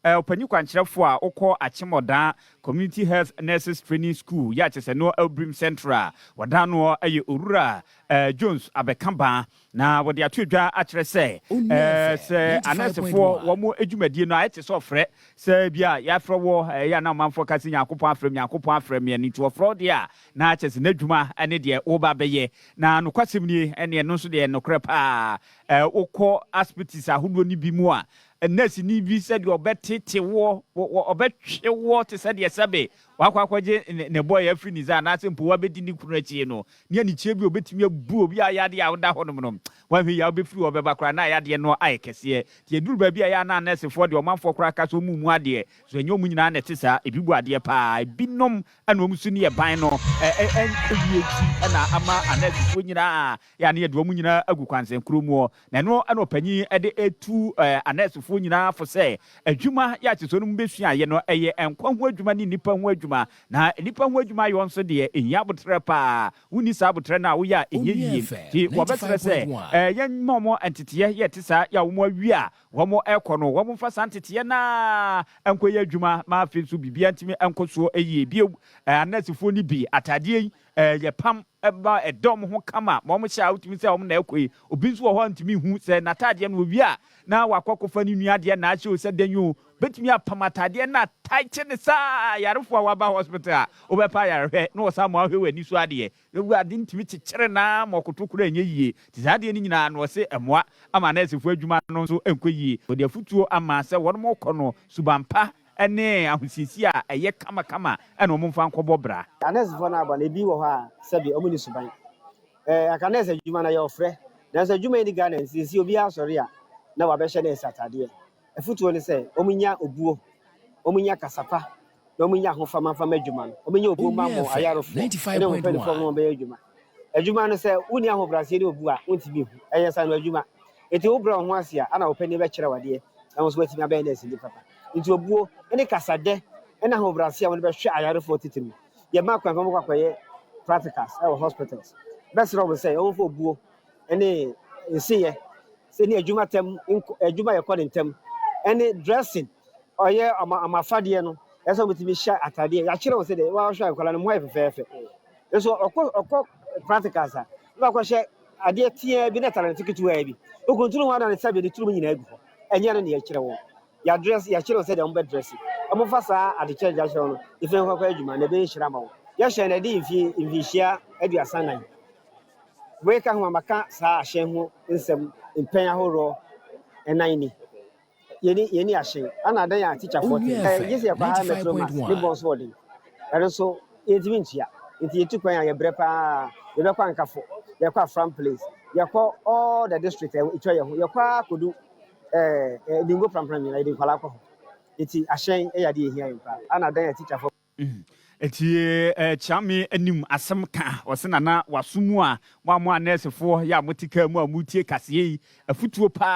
Eh, ɔpanyin kwankyerɛfo a ɔkɔɔ Akyemmɔdaa Community Health Nurses Training School yɛ akyɛ sɛ noɔ Elbrim Central wɔdan noɔ yɛ Owura eh, Jones Abɛkabaa na wɔde ato dwa akyerɛ sɛ eh, sɛ anɛɛsefoɔ wɔn adwumadie no a ɛte sɛ ɔfrɛ sɛ bi a yɛafrɛ wɔ eh, yɛ a na ɔmanfoɔ ka sɛ Nyankopɔn afrɛ me Nyankopɔn afrɛ me ɛno nti ɔfrɛ wo deɛ a na akyɛ sɛ n'adwuma ne deɛ woba bɛyɛ na nokwasɛm nie ɛne ɛno nso deɛ nokorɛ paa eh, wokɔ aspitis ahodoɔ no bi mu a nɛɛseni bi sɛ deɛ ɔbɛtete woɔ, ɔbɛtwe woɔ te sɛ deɛ sɛbe wakɔ akɔgye ne bɔeɛ afiri ne nsa anaasɛ mpo wabɛdi ne kunu akyi no, ne anigyeɛ bi a ɔbɛtumi abu obi a yadeɛ a woda hɔnom no, woanhwɛ yie a wobɛfiri hɔ bɛba koraa na yadeɛ no ayɛ kɛseɛ. Nti ɛduru baabi a ɛyɛ a na anɛɛsefoɔ deɛ ɔmanfoɔ koraa ka sɛ wɔn mmu adeɛ, nso ɛnyɛ wɔn nyinaa na ɛte saa, ebi bu adeɛ pa ara, ebinom na wɔn su ne yɛ ban no, ɛn, ɛn, ewie akyi na ama anɛɛsefoɔ nyinaa yɛ a ne yɛde wɔn nyinaa agu kwansɛnkoro mu, na ɛno na ɔpanyin de retu anɛɛsefoɔ nyinaa fo sɛ adwuma yɛ ahyɛsoɔ no mu bɛsuaeɛ no yɛ nkwa ho adwuma ne nnipa ho adwuma, na nnipa ho adwuma yɔ nso deɛ ɛhia aboterɛ pa ara, wonni saa aboterɛ no a woyɛ a ɛnyɛ yie, nti wɔbɛsrɛ sɛ yɛmma wɔn nteteeɛ yɛ ɛte saa, yɛ a wɔn awie a wɔn rekɔ no wɔn mfa saa nteteeɛ no ara nkɔyɛ adwuma ma afei nso biribiara ntumi nkɔ soɔ yie bio, anɛɛsefoɔ no bi ataadeɛ yi yɛ pam. ɛma ɛda wɔn ho kama ma wɔhyɛ a wotumi sɛ wɔn na ɛkɔ yi. Obi nso wɔ hɔ a ntumi nhu sɛ n'ataadeɛ no owie a na wakɔ akɔfa ne nua adeɛ na ahyɛ o sɛ dɛn o. Obetumi apam ataadeɛ na ataekye no saa a ayarefo a wɔaba hospital a wobɛpɛ ayarehwɛ na wɔsan ma wɔahwɛ w'ani so adeɛ no gu ade no tumi kyekyere no ara ma ɔkoto koraa nyɛ yie. Nti saa adeɛ no nyinaa no ɔse ɛmmoa ama nɛɛsefo adwuma no nso nkɔ yie. Ɔde afotuo ama sɛ wɔn kɔ no suban pa ne ahosiesie a ɛyɛ kamakama na wɔmfa nkɔbɔ bra. Na nɛɛsefo no aba no, ebi wɔ hɔ a sɛbe wɔnni suban. Ɛɛ, anka nɛɛse adwuma no yɛ ɔfrɛ, nanso adwuma yi nni Ghana nti, seesei obiara sɔre a na wabɛhyɛ nɛɛse atadeɛ. Afotuo ne sɛ, wɔnnya obuo, wɔnnya kasa pa, na wɔnnya ahofama mfa mma adwuma no. Wɔnyɛ obuo mma wɔn ayarefoɔ ne wɔn mpanimfoɔ mma wɔmmɛyɛ adwuma. Adwuma no, sɛ wonni ahobrɛaseɛ ne obu a, wontumi nhu. Ɛyɛ sɛ ano adwuma. Enti wobrɛ wo ho ase a, ɛna wo panin bɛkyerɛ wo adeɛ na wo nso woatumi abɛyɛ nɛɛseni papa. Enti obuo ne kasadɛ ne ahobrɛaseɛ a wɔde bɛhwɛ ayarefoɔ titiriw. Yɛma akwan ma wɔkɔ akɔyɛ practicals wɔ hospitals. Mɛsrɛ wɔn sɛ wɔmfa obuo ne nsiyɛ sɛ ne adwuma tɛm nkɔ, adwuma a yɛkɔ no ntɛm ne dressing, ɔyɛ wɔn afadeɛ no, ɛsɛ sɛ wɔtumi hyɛ atadeɛ. Yɛakyerɛ wɔn sɛdeɛ wɔhwɛ nkwadaa no, mo ho ayɛ fɛfɛɛfɛ. Nso ɔkɔ ɔkɔ practicals a na wakɔhyɛ adeɛ teaa bi na talente ketewaa bi okuntunu ho ana ne sɛbe ne turum nyinaa gu hɔ ɛnyɛ no na yɛkyerɛ wɔn yɛadrɛs yɛkyerɛ wɔn sɛdeɛ wɔbɛdrɛse wɔmfa saa ade kyerɛ gya kyerɛ no ɛfiri no kɔkɔ adwuma na ɛbɛyɛ hyira ma wɔn yɛhyɛ no ɛde mfi mfinhyia aduasa nan wei ka ho a maka saa ahyɛn ho nsɛm mpɛn ahoroɔ ɛnan ni. Yɛni yɛni ahye ana adɛn a teacher foɔ te ɛɛ gye sɛ yɛkɔ higher metro mass ne bɔn so ɔden ɛno nso yɛntumi ntua nti yɛtu kwan a yɛbrɛ paa yɛbɛkɔ ankafo yɛkɔ afram place yɛkɔ all the district a ɛtwa yɛ ho yɛkɔ a kodu ɛɛ ɛɛ dingo prampram nyinaa yɛde nkwadaa kɔ ho nti ahyɛn ɛyɛ adeɛ ɛhia yɛn paa ana adɛn a teacher foɔ Enti kyea me anim asɛm ka wɔ se nana waso mu a mo a mo a nɛɛsefoɔ yɛ a mote kaa mu a moretie kaseɛ yi afutuo pa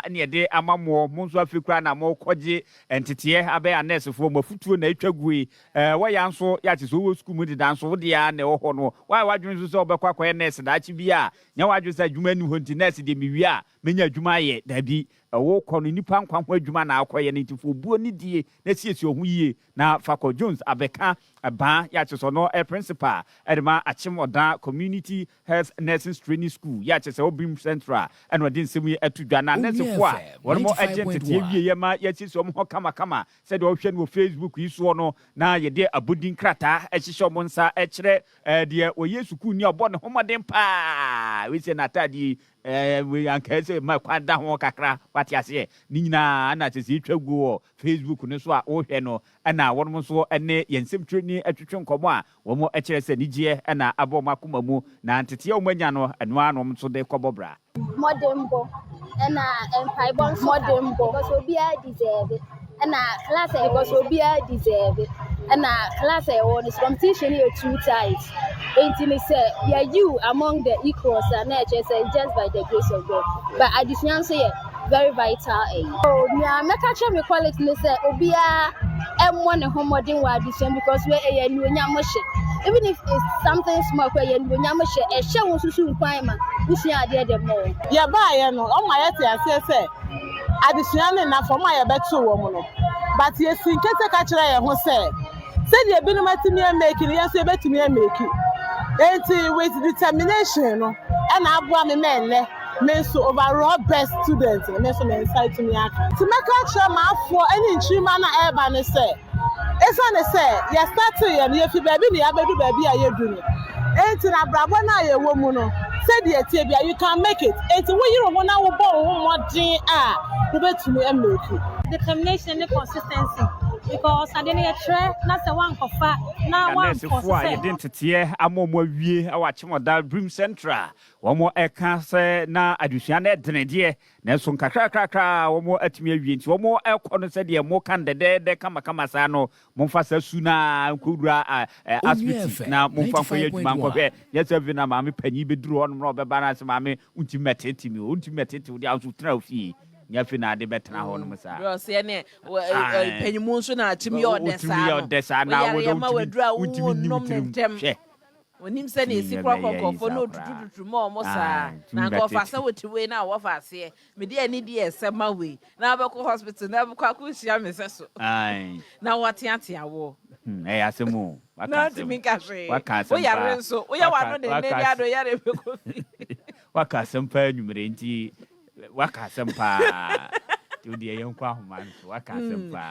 ara ne yɛde ama moɔ mo nso afei koraa na morekɔgye nteteɛ abɛyɛ anɛɛsefoɔ mo afutuo na atwa gu yi eh, wɔ ya nso yɛ ate sɛ wowɔ sukuu mu deda nso wode ara na ɛwɔ hɔ no woayɛ w'adwene nso sɛ wobɛkɔ akɔyɛ nɛɛse daakye bi a nyɛ w'adwene sɛ adwuma nni hɔ nti nɛɛse deɛ mewie a mɛnya adwuma ayɛ daabi ɛwokɔ no nnipa nkwa ho adwuma na akɔyɛ no nti fo obuo ne die na siesie wo ho yie Na fakɔ Jones abɛka baa yɛ akyerɛ sɛ ɔno yɛ principal de ma Akyem Ɔdaa Community Health Nursing's Training School yɛ akyerɛ sɛ Obim Central ɛna ɔde nsɛm yi ato dwa na nɛsefo a wɔn mo ɛgye ntetee wieɛ ma yɛasiesie wɔn ho kama kama sɛdeɛ ɔhwɛ no wɔ Facebook yi soɔ no na yɛde abodin krataa ɛhyehyɛ wɔn nsa ɛkyerɛ deɛ ɔyɛ sukuuni a ɔbɔ ne ho mmɔden paa wei sɛ n'ataadeɛ yi Ɛɛ, wei anka ɛsɛ ma kwan da ho kakra, wate aseɛ. Ne nyinaa na sɛ sɛ yɛtwa gu wɔ Facebook no so a, wohwɛ no na wɔnom nso ne yɛn nsɛmtwerɛni atwetwe nkɔmmɔ a, wɔkyerɛ sɛ anigyeɛ na aba wɔn akoma mu, na nteteɛ a wɔanya no, ɛno ara na wɔn nso de kɔbɔ bra. Mmɔdenbɔ, ɛna mpaebɔ nso ka ho, because obiara deserve. ɛna class a yɛkɔ so obiara deserve ɛna class a yɛwɔ no so competition yɛ too tight nti ne sɛ yɛyi wo among the equals a na ɛkyerɛ sɛ just by the grace of God but adesua nso yɛ very vital ɛyi. Eh. Oh, nea mɛka kyerɛ me colleagues ne sɛ obiara ɛmmɔ ne ho mmɔden wɔ adesua because wei ɛyɛ anuonyam hyɛ even if it's something small kora yɛ anuonyam hyɛ ɛhyɛ wo nso so nkwan ma wosua adeɛ de mmɔ. yɛbaeɛ no ɔma yɛte aseɛ sɛ adesua ne nna fam a yɛbɛto wɔn no, but yɛsii nkate ka kyerɛɛ yɛn ho sɛ, sɛdeɛ binom atumi amake no, yɛn nso yɛbɛtumi amake. Enti with determination no ɛna aboa me ma ɛnnɛ me nso overall best student no, me nso me nsa atumi aka. Nti mɛka akyerɛ m'afoɔ ne nkyirimma no a ɛreba no sɛ. Esiane sɛ yɛ startee yɛn yefi baabi na yɛabedu baabi a yɛadu no nti na abrabɔ no a yɛwɔ mu no sɛdeɛ ɛteɛ biara you can make it nti wo yere wo ho na wo bɔ wo ho mmɔden a wo bɛtumi a make. Determination ne consistency because adeɛ no yɛ kyerɛ na sɛ woankɔ fa na Na woampɔ nɛɛsefo so a sɛ. yɛde nteteɛ ama wɔn awie wɔ Akyem Ɔdal Dream Centre a wɔka sɛ na adesua no ɛdene deɛ Nanso nkakrakrakra a wɔatumi awie nti, wɔkɔ no sɛdeɛ moka no dɛdɛɛdɛ kamakama saa no, momfa saa su no ara nkɔwura asibiti na momfa nkɔyɛ adwuma nkɔhwɛ, nyɛ sɛ afei na maame panin bɛduru hɔnom na ɔbɛba na ɔse, Maame, wontumi mmɛtete me o, wontumi mmɛtete wo deɛ, wo nso tena wo fie, nyɛ afei na wode bɛtena hɔnom saa. Berɛ a ɔse ɛne ɔpanyin nso na watumi yɛ ɔdɛ saa no, woyareɛ ma waduru a wontumi nni wo tirim, hwɛ. Wɔnim sɛnea Tumi esi kora bɛbɛyɛ kɔkɔɔfo na Isa koraa. otutututu ma wɔn saa. Ae, Na tumi anka bɛte. ɔfa sɛ wote wei na wɔfa aseɛ. Mede anidie a ɛsɛ ma wei. Na wobɛkɔ hospital na wobɛkɔ akɔhyia me sɛso. Ae. Na wɔateatea wo. Hmm, ɛyɛ asɛm o. Waka Na asɛm. ntumi nka hwee. Waka asɛm Wo yare paa. nso, woyɛ Waka- w'ano dennennen waka ade a ɔyare bɛkɔ fi. Waka asɛm paa anwumerɛ yi, nti waka asɛm paa. Nti wo deɛ yɛnkɔ ahoma no so. Waka asɛm paa.